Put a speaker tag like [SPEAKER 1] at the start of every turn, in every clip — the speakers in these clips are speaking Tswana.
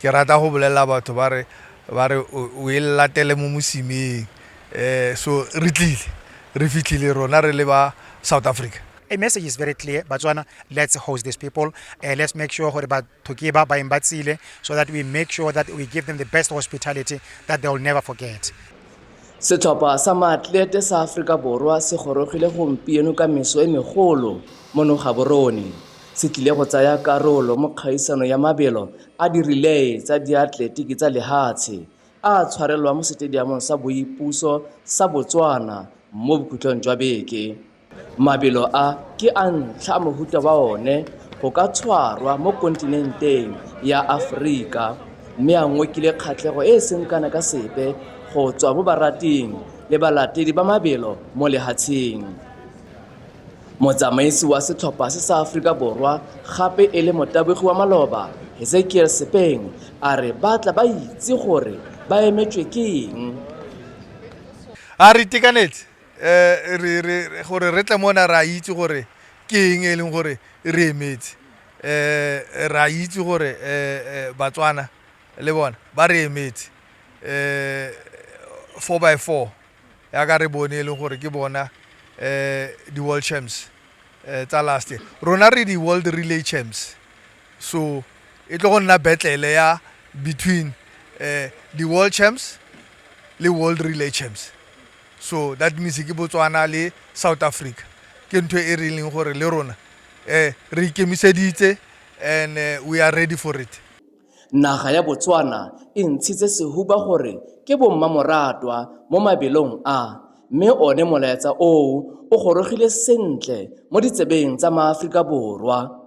[SPEAKER 1] Ke rata go bolelela batho ba re ba re o e latele mo mosimeng um so re tlile re fitlhile rona re le ba South Africa. A message is very
[SPEAKER 2] clear Batswana let's host these people uh, let's make sure gore batho ke ba baeng ba tsile so that we make sure that we give them the best hospitality that they will never forget. Setlhopha
[SPEAKER 3] sa maatlete sa Aforika Borwa se gorogile gompieno ka meso e megolo mo Nogaborone. Se tlile go tsaya karolo mo kgaisano ya mabelo a dirilee tsa diatletiki tsa lehatshe a a tshwarelwang mo Setediamong sa Boipuso sa Botswana mo bokhutlong jwa beke. Mabelo a ke a ntlha a mohuta wa one go ka tshwarwa mo kontinenteng ya Aforika mme a ngokile kgatlhego e e seng kana ka sepe go tswa mo barating le balatedi ba mabelo mo lehatsheng. Motsamaisi wa setlhopha se sa Aforika Borwa gape e le motabogi wa maloba, Hezekiel Sepeng a re ba tla ba itse gore ba emetswe ke eng.
[SPEAKER 1] A re itekanetse. um gore re tle mona re a itse gore ke eng e leng gore re emetse um re a itse gore um batswana le bona ba re emetse um four by four yaka re bone e leng gore ke bona um di-world champs um tsa last year rona re di-world relay champs so e tlo go nna betlele ya between um di-world champs le world relay champs So that means ke Botswana le South Africa ke ntho e re leng gore le rona eh re ikemiseditse and eh, we are ready for it. Naga ya
[SPEAKER 3] Botswana e ntshitse sehuba gore ke bommamoratwa mo mabelong a mme one molaetsa oo o gorogile sentle mo ditsebeng tsa maAforika Borwa.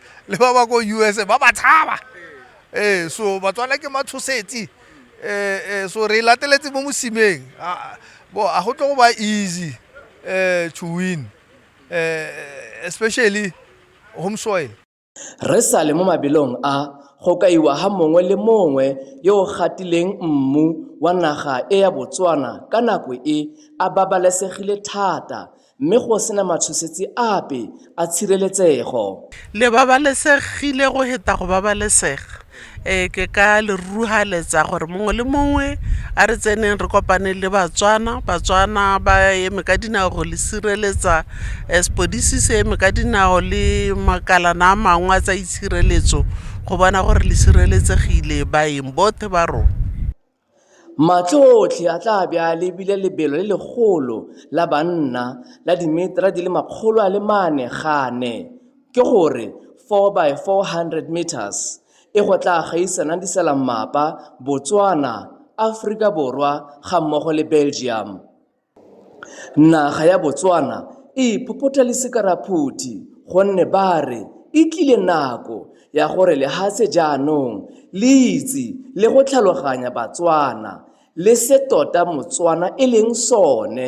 [SPEAKER 1] le ba ba ko usa ba ba tshaba ee so batswana ke matshosetsi um so re e lateletse mo mosimeng bo a go tlo go ba easy um to win um especially home soil re sa le
[SPEAKER 3] mo mabelong a go kaiwa ga mongwe le mongwe yo o gatileng mmu wa naga e ya Botswana ka nako e a babalesegile thata Mme go se na matshosetsi ape a tshireletsego. Le
[SPEAKER 4] babalesegile go heta go babalesega. Ee, ke ka le ruruhaletsa gore mongwe le mongwe a re tseneng re kopane le Batswana. Batswana ba eme ka dinao go le sireletsa, sepodisi se eme ka dinao le makalana a mangwe a tsa itshireletso go bona gore le sireletsegile baeng botlhe ba rona. Matlho
[SPEAKER 3] otlhe a tla be a lebile lebelo le legolo la banna la dimetara di le makgolo a le mane gane, ke go re, 4 by 400 metres, e go tla gaisanang disalammapa, Botswana, Aforika Borwa gammogo le Belgium. Naga ya Botswana e iphophotha le sekaraphothi gonne ba re e tlile nako ya gore lehatshe jaanong le itse le go tlhaloganya Batswana le se tota Motswana e leng sone.